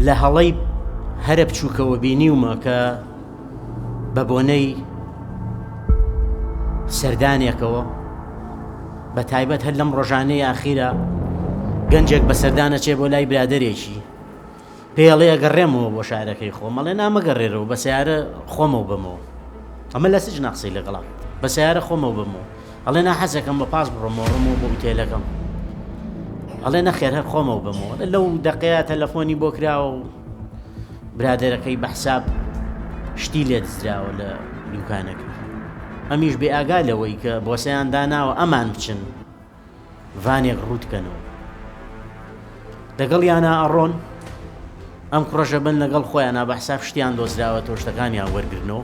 لە هەڵەی هەرە بچووکەوە بینیومە کە بە بۆنەی سەردانێکەوە بە تایبەت هەر لەم ڕۆژانەی یاخیرە گەنجێک بە سەردانە چێ بۆ لای برادێکی پێڵێ ئەگەڕێمەوە بۆ شارەکەی خۆمەڵێ نامەگەڕێرەوە بە سیارە خۆمەوە بمەوە ئەمە لە سجنا قسەی لەگەڵا بە سیارە خۆمەوە بمەوە ئەڵێ نا حەزەکەم بە پاس بڕۆمەوە ڕمەوە بۆ ئوتێلەکەم ئەڵێ نەخێر هەر خۆمەوە بمەوە لەو دەقەیە تەلەفۆنی بۆ کراوە و برادێرەکەی بە حساب شتی لێ دزراوە لە دوکانەکە ئەمیش بێ ئاگا لەوەی کە بۆسەیان داناوە ئەمان بچن ڤانێک ڕووتکەنەوە دەگەڵ یانە ئەڕۆن ئەم کوڕەژە بن لەگەڵ خۆیان نا بە حساب شتیان دۆزراوە تۆشتەکانیان وەرگرنەوە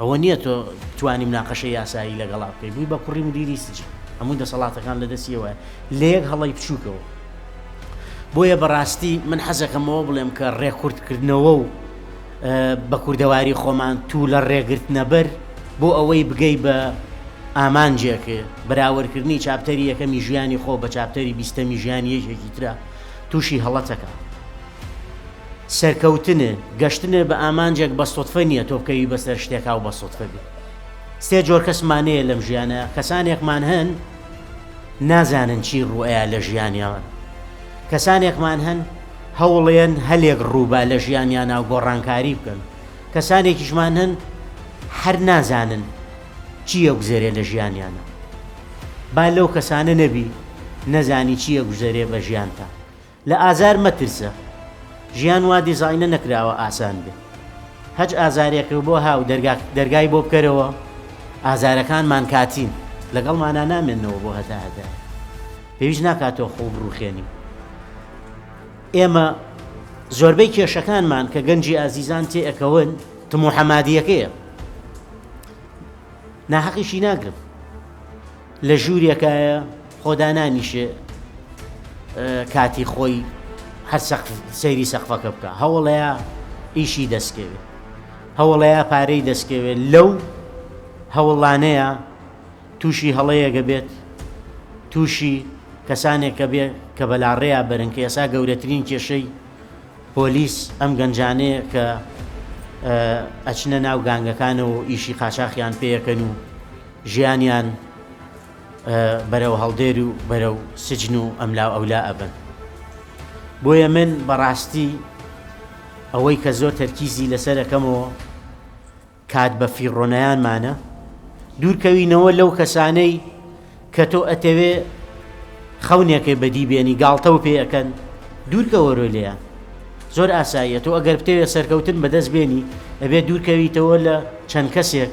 ئەوە نیە تۆ توانی مناقەشەی یاسایی لەگەڵا بکەی بووی بە کوڕی مدیری سجن هەموو دەسەڵاتەکان لە دەستی ئێوەیە لە یەک هەڵەی بچووکەوە بۆیە بەڕاستی من حەزەکەمەوە بڵێم کە ڕێکوردکردنەوە و بە کوردەواری خۆمان تو لە ڕێگرتنەبەر بۆ ئەوەی بگەی بە ئامانجێک بەراوەرکردنی چاپتەری یەکەمی ژیانی خۆ بە چاپتەری بیستەمی ژیانی یەکێکی ترە تووشی هەڵەتەکە سەرکەوتنێ، گەشتنێ بە ئامانجێک بە سوتفە نیە تۆ بکەوی بەسەر شتێکا و بە سوتفە بێ. سێ جۆر کەس مانەیە لەم ژیانە، کەسانێکمان هەن نازانن چی ڕوئەیا لە ژیانیان، کەسانێکمان هەن هەوڵێن هەلێک ڕوبا لە ژیانیانا و گۆڕانکاری بکەن، کەسانێکیشمان هەن هەر نازانن چی یەگوزەرێ لە ژیانیانا. با لەو کەسانە نەبی نەزانی چی یەگوزەرێ بە ژیانتا. لە ئازار مەترسە ژیان وا دیزاینە نەکراوە ئاسان بێ هەچ ئازارێکە بۆ هاو دەرگای بۆ بکەرەوە ئازارەکانمان کاتین لەگەڵمانا نامێنەوە بۆ هەتا هەتا پێویست ناکاتەوە خۆ بڕوخێنی ئێمە زۆربەی کێشەکانمان کە گەنجی ئازیزان تێ ئەکەون تمۆحەمادیەکەیە ناحەقیشی ناگرم لە ژوورێکایە خۆ دانانیشێ کاتی خۆی هەر سەیری سەقفەکە بکە هەوڵەیە ئیشی دەستکەوێت هەوڵەیە پارەی دەستکەوێت لەو هەوڵانەیە تووشی هەڵەیەگە بێت تووشی کەسانێک کە بێ کە بەلاڕێیا بەرن کە ئێسا گەورەترین کێشەی پۆلیس ئەم گەنجانەیە کە ئەچنە ناو گانگەکانەوە ئیشی قاچاخیان پێەکەن و ژیانیان بەرەو هەڵدێر و بەرەو سجن و ئەملاو ئەولا ئەبەن بۆیە من بەڕاستی ئەوەی کە زۆر تەرکیزی لەسەرەکەمەوە کات بە فیڕۆنەیانمانە دوورکەوینەوە لەو کەسانەی کە تۆ ئەتەوێ خەونێکی بەدی بێنی گاڵتە و پێەکەن دوورکەوەرۆ لێیان زۆر ئاساییە تۆ ئەگەر بتەوێت سەرکەوتن بەدەست بێنی ئەبێ دوورکەویتەوە لە چەند کەسێک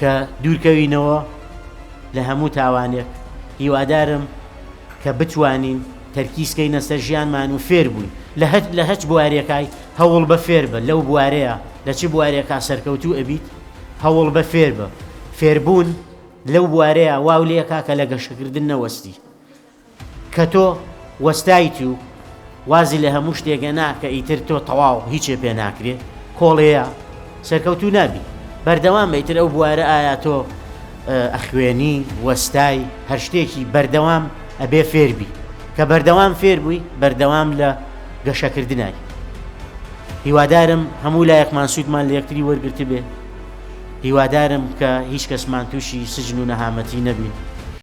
کە دوورکەوینەوە لە هەموو تاوانێک هیوادارم کە بتوانین تەرکیزکەینە سەر ژیانمان و فێر بووین لە هەر لە هەچ بوارێکای هەوڵ بە فێر بە لەو بوارەیە لە چ بوارێکا سەرکەوتوو ئەبیت هەوڵ بە فێر بە فێربوون لەو بوارەیە واو لێکا کە لە گەشەکردن نەوەستی کە تۆ وەستایتی و وازی لە هەموو شتێک هێنا کە ئیتر تۆ تەواو هیچێ پێ ناکرێ کۆڵێیە سەرکەوتوو نابی بەردەوام بە ئیتر ئەو بوارە ئایا تۆ ئەخوێنی وەستای هەر شتێکی بەردەوام ئەبێ فێربی کە بەردەوام فێر بووی بەردەوام لە گەشەکردنای هیوادارم هەموو لایەکمان سوودمان لە یەکتری وەرگرتبێ هیوادارم کە هیچ کەسمان تووشی سجن و نەهامەتی نەبین